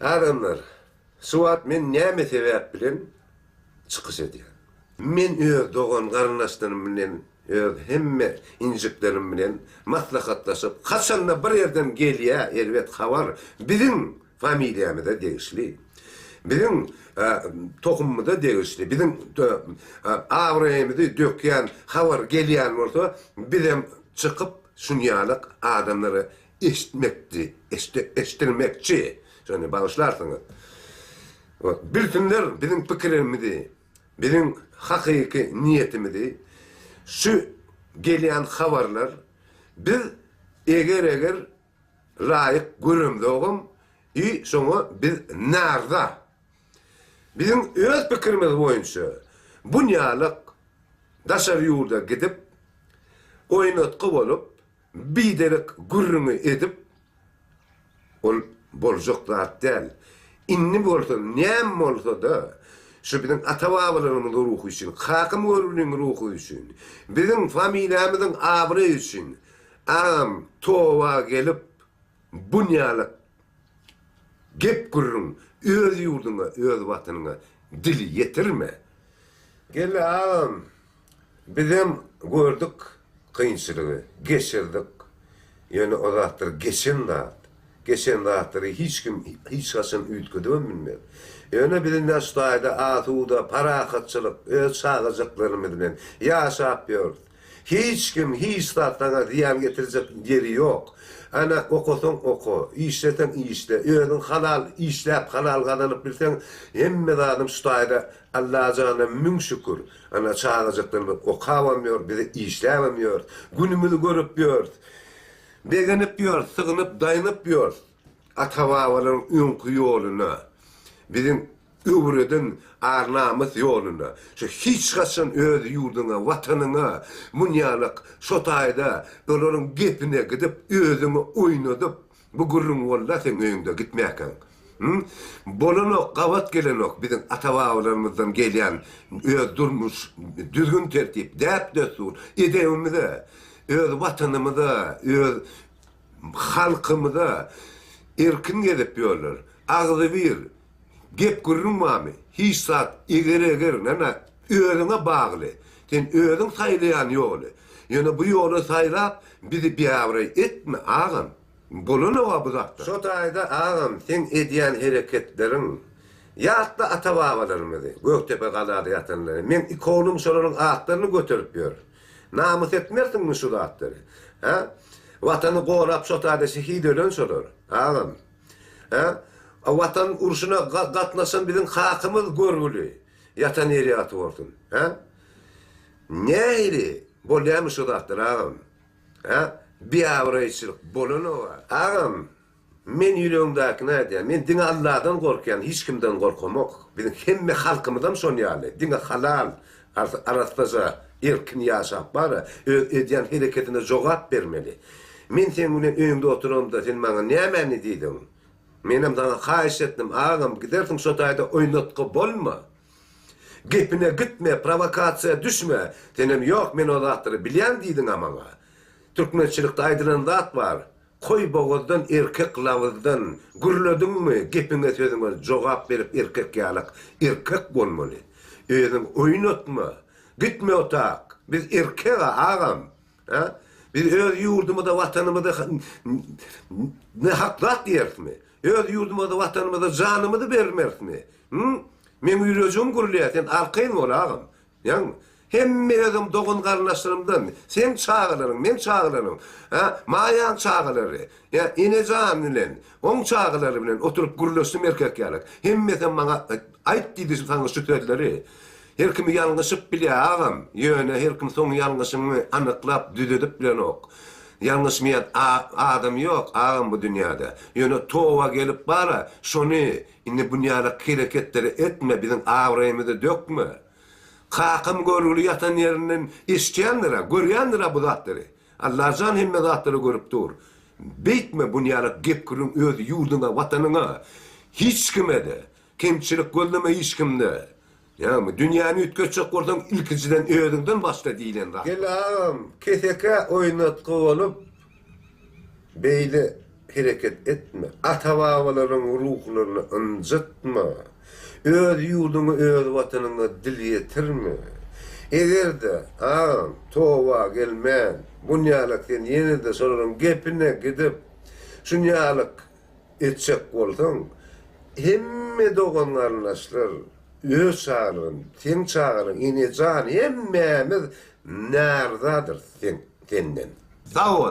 Adamlar, şu wagt men näme sebäp bilen çykyş edýän? Men öz dogan-garyndaşlarym bilen, öz hemme injiklerim bilen maslahatlaşyp, haçan-da bir ýerden gelýä erbet habar, biziň familiýamyza degişli, biziň tohumymyza degişli, biziň abraýymyzy dökýän habar gelýän bolsa, bizem çykyp, şunýaly adamlara eşitmekçi, eşdilmekçi, şony bagyşlarsyňyz. Wah, bilsinler biziň pikirimizi, biziň hakyky niýetimizi, şu gelýän habarlar, biz eger-eger laýyk göremzogam i şoňa biz naryza. Biziň öz pikirimiz boýunça bunýalak daşary ýurda gidip, oýnatgy bolup, Biderek gürrüňi edip, ol boljak zat däl. Indi bolsa näme bolsa-da, şu biziň ata-babalarymyzyň ruhy üçin, kakam Görgüliň ruhy üçin, biziň familiýamyzyň abraýy üçin, agam, toba gelip, Bunýalyk gep-gürrüň öz ýurduňa, öz watanyňa dil ýetirme. Geldi agam, bizem gördük kynçylygy, geçirdik. Ýöne o zatlar geçen zat. Geçen zatlary hiç kim hiç haçan üýtgedibem bilmez. Ýöne biz indi şu taýda asuda, parahatçylyk, öz çagajyklarymyz bilen ýaşap ýörüs. Hiç kim hiç zat saňa zyýan getirjek ýeri ýok. Ana okasaň oka, işleseň işle, özüň halal işläp halal gazanyp bilseň hemme zadym şu taýda Allajana müň şükür. Ana çagajaklarymyz okabam ýör, biz işläbem ýörs, günümizi görüp ýörs, begenip ýörs, sygynyp, daýnyp ýörs ata-babalaryň öňki ýoluna. Biziň Öwrediň ar-namys ýoluna, şu hiç haçan öz ýurduňa, watanyňa munýanok, şo taýda olaryň gepine gidip, özüňi oýnadyp, bu gürrüň walla seň öýüňde gitmäkäň. Hü, bolanok, gabat gelenok biziň ata-babalarymyzdan gelýän öz durmuş düzgün-tertip, däp-dessur, edebimize, öz watanymyza, öz halkymyza erkin gezip ýörler. Agzybir Gep gürrüň barmy? Hiç zat. Eger eger, nana, özüňe bagly. Sen özüň saýlaýan ýoly. Ýöne bu ýoly saýlap, bizi biabraý etme, agam. Bolanok-a bu zatlar. Şo taýda, agam, seň edýän hereketleriň. Ýatla ata-babalarymyzy, Gökdepe galada ýatanlary. Meň iki oglum şolaryň atlaryny göterip ýör. Namys etmersiňmi şu zatlary? Hä? Watany gorap şo taýda şehit ölen şolar, agam. Hä? A Watan urşuna gatnaşan biziň kakymyz görgüli ýatan ýeri ýagty bolsun. Hä? Nähili bolýamy şu zatlar agam? Hä? Biabraýçylyk bolanok-a. Agam, men ýüregiňdäkini aýdýan. Men diňe Alladan gorkýan, hiç kimden gorkamok. Biziň hemme halkymyzam şon ýaly. Diňe halal, Arassaja, erkin ýaşap bar-a, öz edýän hereketine jogap bermeli. Men seň bilen öýümde oturamda sen maňa nämäni diýdiň? Menem saňa haýyş etdim, agam, gidersiň şo taýda oýnatgy bolma. Gepine gitme, prowokasiýa düşme. Senem ýok, men o zatlary bilýän diýdiň-ä maňa. Türkmençilikde aýdylan zat bar. Koý bogazdan erkek labyzdan gürlediňmi gepiňe sözüňe jogap berip erkek ýalak erkek bolmaly özüň oýnatma gitme otak biz erkega agam a biz öz ýurdumyza watanymyza ne hak zat diýerismi öz ýurdumyza watanymyza janymyzy bermerismi hum meň ýürejiň gürleýä sen arkaýyn bol agam Ýagny, hemme özüň dogan-garyndaşlarymdan, seň çagalaryň, meň çagalaryň, hä, Maýaň çagalary, hä, Enejan bilen, oň çagalary bilen oturyp gürleşdim erkek ýaly. Hemmesem maňa aýt diýdi şu saňa şu sözleri. Her kimi ýalňyşyp bilýär, agam. Ýöne her kim soň ýalňyşyňy anyklap, düzedip bilenok. Ýalňyşmaýan adam ýok, agam, bu dünýäde. Ýöne toba gelip bar-a, şony Indi bunýaly hereketleri etme biziň abraýymyzy dökme. Kakam görgüli ýatan ýerinden eşitýändirä, görýändirä bu zatlary. Allajan hemme zatlary görüp dur. Beýtme bunýaly gep-gürrüň öz ýurduňa, watanyňa. Hiç kimede. Kemçilik gözleme hiç kimde. Ýagny, dünýäni üýtgetjek bolsaň, ilkinjiden özüňden başla diýlen zat. Gel agam, kesekä oýnatgy bolup, beýle hereket etme. Ata-babalaryň ruhlaryny ynjytma. Öz ýurduňa, öz watanyňa dil ýetirme. Eger-de, agam, toba gelmän, bunýalak sen ýene-de şolaryň gepine gidip, şunýalak etjek bolsaň, hemme dogan-garyndaşlar öz çagalygyn, seň çagalygyň, enejan hemmämiz närdadyrys senden. Sag bol.